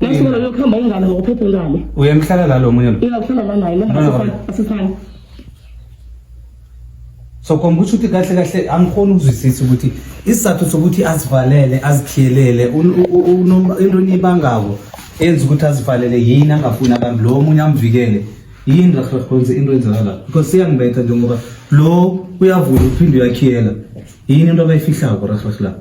Nasibona lokuhamba ingane ngokuphephe ngane. Uyemhlala la lo munye lo. Uyakuhlala la naye No, no, no. lona asifani. So komba ukuthi uthi kahle kahle angikhoni ukuzwisisa ukuthi isizathu sokuthi azivalele azikhiyelele un- u- u- unom- into eniyibangako enza ukuthi azivalele yini angafuni abantu lo omunye amvikele yini rahrahonze into enzeka la because siyangibetha njengoba lo uyavula uphinde uyakhiyela yini into abayifihlako rahrah la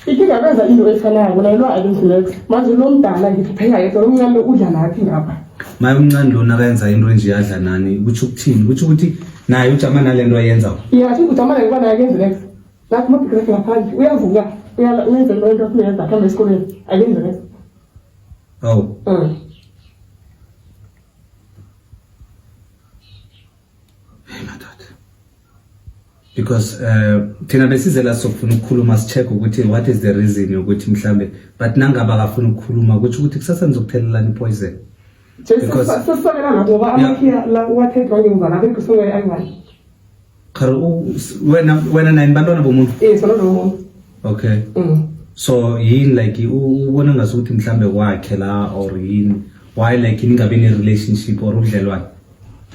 Ikinga benza into efanayo kona lo akenzilex. Manje lo mdala ngithi phela yedwa lo mncane udla laphi ngapha. Maye umncane lona akayenza into enje yadla nani ukuthi ukuthini ukuthi ukuthi naye ujama nalento ayenza. Yeah, athi ujama naye kwana akenzilex. Lapho mabheke lapha ngaphandle uyavuka uyala uyenza into into ayenza khamba esikoleni akenzilex. Awu. Mm. because eh, thina besize la sokufuna ukukhuluma sicheck ukuthi what is the reason yokuthi mhlambe but nangaba akafuna ukukhuluma kuthi ukuthi kusasa nizokuthelelana ipoison sesisokela lapho ngoba amakhiya la uwathethwa ngemva lapho ekusuke ayi-one khare wena wena nine bantwana bomuntu yes bantwana bomuntu okay mm. so yini like ubona ngasukuthi mhlambe kwakhe la or yini why like ningabe ne-relationship or ubudlelwane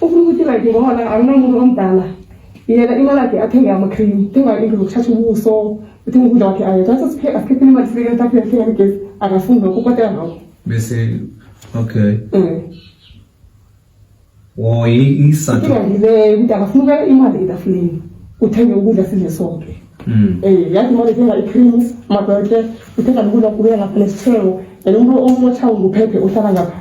ufuna ukuthi like ngoba la akunamuntu omdala yena imali yakhe athenge ama-cream thenga into zokuthatha ubuso uthenge ukudla kwakhe ayo thatha asikhiphile imali sibeke etafile athenge amagesi akafuni lokho ukotela ngako bese okay um woyisa inkinga ngileyo ukuthi akafuni ukuya imali etafuleni uthenge ukudla sidle sonke Mm. um yathi imali ethenga i-creams amadoke uthenga nokudla kubuya ngapha nesithelo and umuntu omothawo nguphephe uhlala ngapha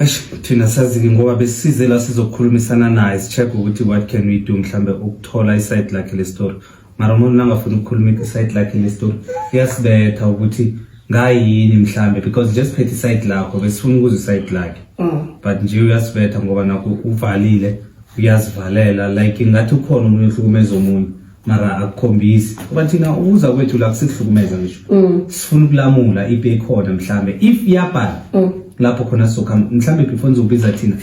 Eish thina sazi-ke ngoba besisize la sizokhulumisana naye si-check ukuthi what can we do mhlambe ukuthola isayidi lakhe lestori mara umuntu nangafuni ukukhuluma isayidi lakhe lestori kuyasibetha ukuthi ngayini mhlambe because nje siphethe isayidi lakho besifuna ukuza isayidi lakhe Mm. but nje uyasibetha ngoba nakho uvalile uyazivalela like ngathi ukhona omunye uhlukumeza omunye mara akukhombisi kuba thina ukuza kwethu la kusihlukumeza ngisho mm. sifuna ukulamula ipi ekhona mhlambe if iyabhala mm. lapho khona soka mhlambe before nizobiza thina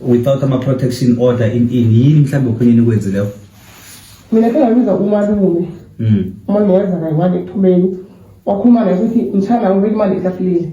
without ama protection order in in yini mhlambe khona nikwenze leyo mina phela ngiza umalume mm. umalume wenza kayi wani ekuphumeni wakhuluma naye ukuthi mthanda ngibeka imali etafuleni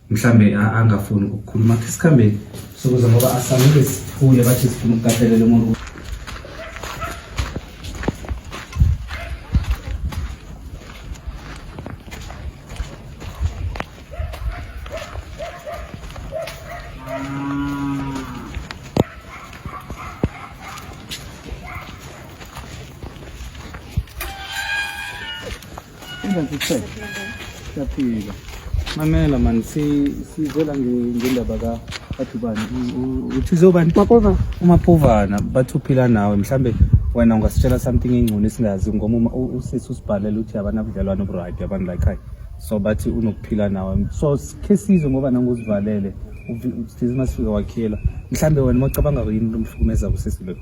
mhlambe angafuni ukukhuluma khe sikhambeni sokuza ngoba asamile siphule bathi sifuna ukukatelela umuntu Siyaphila. Mamela man sizela ngendaba ka bathi bani uthi zobani maphova umaphovana bathi uphila nawe mhlambe wena ungasitshela something engcono esingazi ngoba usisi usibhalela ukuthi abanabudlelwane oburyt abantu la ekhaya so bathi unokuphila nawe so khe sizwe ngoba nangozivalele size masifika wakhiyela mhlambe wena uma ucabanga yini umhlukumeza kusisi lokhu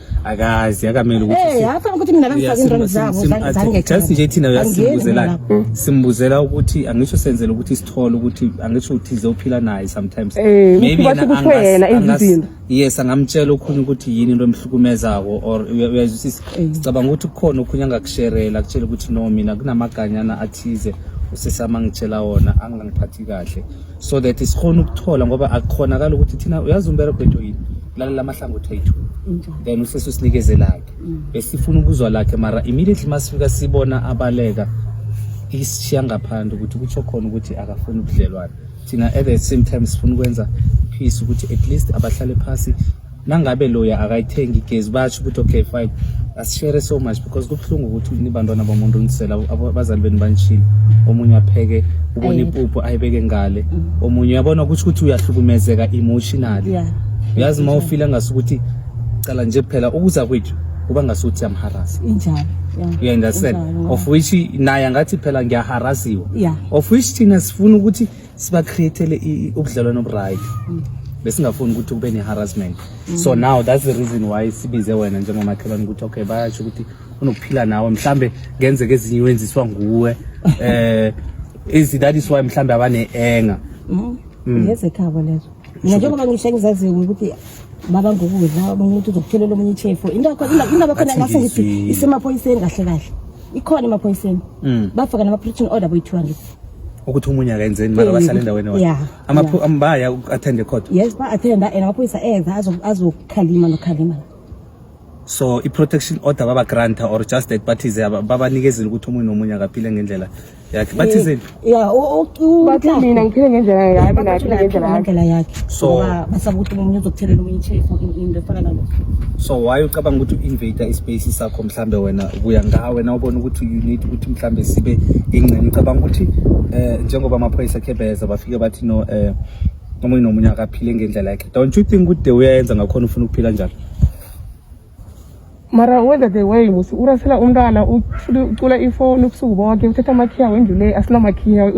akazi akamele ukuthi eh afana ukuthi mina bangifaka into zabo zange just nje thina uyasimbuzela simbuzela ukuthi angisho senzele ukuthi sithole ukuthi angisho ukuthi zophila naye sometimes eh, maybe yena angasina yes angamtshela okhunye ukuthi yini into emhlukumezako or uyazwisisa eh. sicabanga ukuthi kukhona okhunye angakusherela akutshela ukuthi no mina kunamaganyana athize usesama ngitshela wona angangiphathi kahle so that sikhona ukuthola ngoba akukhonakala ukuthi thina uyazi umbereko wethu yini lalela amahlangothi ethu then usese usinikeze lakhe mm. besifuna ukuzwa lakhe mara immediately masifika sibona abaleka isishiya ngaphandle ukuthi kutsho khona ukuthi akafuni ubudlelwane thina at the same time sifuna ukwenza peace ukuthi at least abahlale phasi nangabe loya akayithengi igezi basho ukuthi okay fine asishere so much because kubuhlungu ukuthi nibantwana bomuntu unisela abazali benu banishile omunye apheke ubona impuphu ayibeke ngale mm. omunye uyabona ukuthi ukuthi uyahlukumezeka emotionally uyazi uma ufila ngasukuthi cala nje kuphela ukuza kwethu kuba ngasuthi amharasi injalo you understand of which naye angathi phela ngiyaharasiwa of which thina sifuna ukuthi siba createle ubudlelwano oburyt mm. besingafuni ukuthi kube ne-harassment mm. so now that's the reason why sibize wena njengomakhelwane ukuthi okay bayasho ukuthi unokuphila nawe mhlambe ngenzeka ezinye wenziswa nguwe eh is that is why mhlambe abane-enga mm. mm. ngezekhabo lezo mina njengoba ngisho engizaziyo ukuthi baba ngokudla omunye umuntu uzokutholela omunye ichefu into yakho indaba khona ngase ngithi isemaphoyiseni kahle kahle ikhona emaphoyiseni mm. bafaka nama-protection order boyi-two hundred ukuthi umunye akenzeni mara basale endaweni baya attend ecourt yes ba-attenda and amaphoyisa eza azokhalima nokhalima so i-protection order baba-granta or just that bathize babanikezile ukuthi omunye nomunye akaphile ngendlela yakhe bathi eh, zini ya bathi mina ngiphile ngendlela yami mina ngiphile ngendlela yami ngendlela yakhe so basaba ukuthi umuntu uzokuthelela omunye ichef into efana nalo so why ucabanga ukuthi u-invade ispace sakho mhlambe wena ubuya ngawe na ubona ukuthi you need ukuthi mhlambe sibe ingxenye ucabanga ukuthi eh njengoba amaphoyisa khebeza bafike bathi no eh omunye nomunye akaphile ngendlela yakhe don't you think ukuthi uyayenza ngakhona ufuna ukuphila njalo mara wenza the way musi urasela umntwana ucula ifoni ubusuku bonke uthatha amakhiya wendlu le asinamakhiya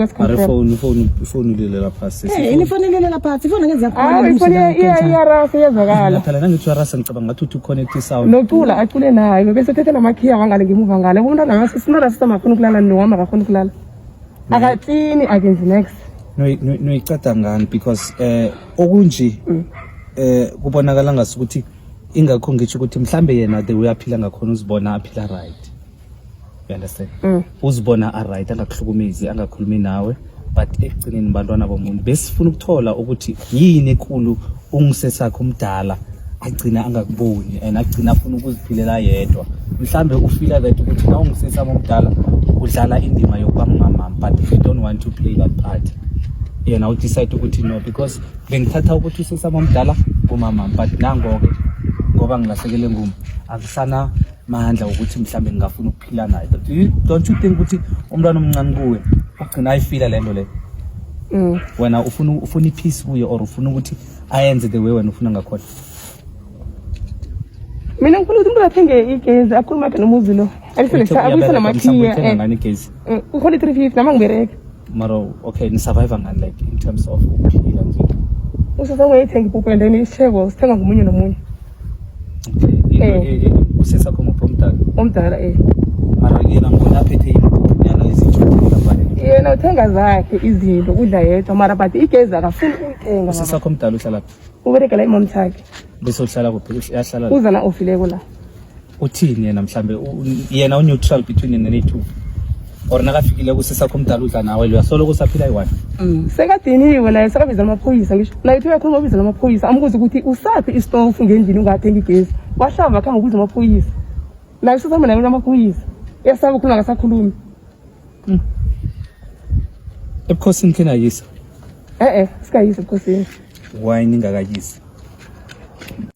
ifoni lilela phasi eh, ifoni lilela phasi ifoni ngeze yakhona ifoni iyarasa iyezwakala phela nangithi uyarasa ngicabanga ngathi uthi uconnect isound nocula acule naye bese uthatha namakhiya wangale ngemuva ngale umntwana ngase simntwana sisamakhona ukulala nowami akakhona ukulala akaklini akenzi next noyicada ngani because um okunje um kubonakala ngasukuthi ingakho ngisho ukuthi mhlambe yena the way aphila ngakhona uzibona aphila right you understand mm. uzibona a right angakuhlukumezi angakhulumi nawe but ekugcineni bantwana bomuntu besifuna ukuthola ukuthi yini enkulu ungisesakhe umdala agcina angakuboni and agcina afuna ukuziphilela yedwa mhlambe ufila that ukuthi na ungisesami omdala udlala indima yokuba ngumamam but if you don't want to play that part yena udecide ukuthi no because bengithatha ukuthi usesaba omdala kumama but nangoke ngoba ngilahlekele nguma akusana mandla ukuthi mhlawumbe ngingafuna ukuphila naye don't you think ukuthi umntwana omncane kuwe ugcina ayifila le nto le mm. wena ufuna ufuna ipeace kuye or ufuna ukuthi ayenze the way wena ufuna ngakhona mina ngifuna ukuthi umntu athenge igezi akhulume aphe nomuzi lo aliselesabuyise namakhiya eh. mm, ngifuna i-three fifty nama ngibereke mara okay ni survive ngani like in terms of ukuphila nje usasa ungayithenga ipuphu and then isitheko sithenga ngomunye nomunye okay usesa kho muphu omdala omdala eh mara yena ngona aphethe ipuphu nyana izinto yena uthenga zakhe izinto udla yedwa mara but igezi akafuni ukuyithenga usasa kho mdala uhlala phi uberekela imom sakhe bese uhlala kuphi uyahlala uzana ofileko la uthini yena mhlambe yena uneutral between yena ne-two or nakafikile kusisakho umdala udla nawe loya soloko usaphila yi-one Mm. sekadiniwe naye sekabiza amaphoyisa ngisho naye thiwe khona wabiza amaphoyisa ambuza ukuthi usaphi istofu ngendlini ungathengi igezi wahlamba akhange ubiza amaphoyisa naye usasama naye amaphoyisa yasaba ukhuluma akasakhulumi ebukhosini khenayisa e-e sikayise ebukhosini why ningakayisi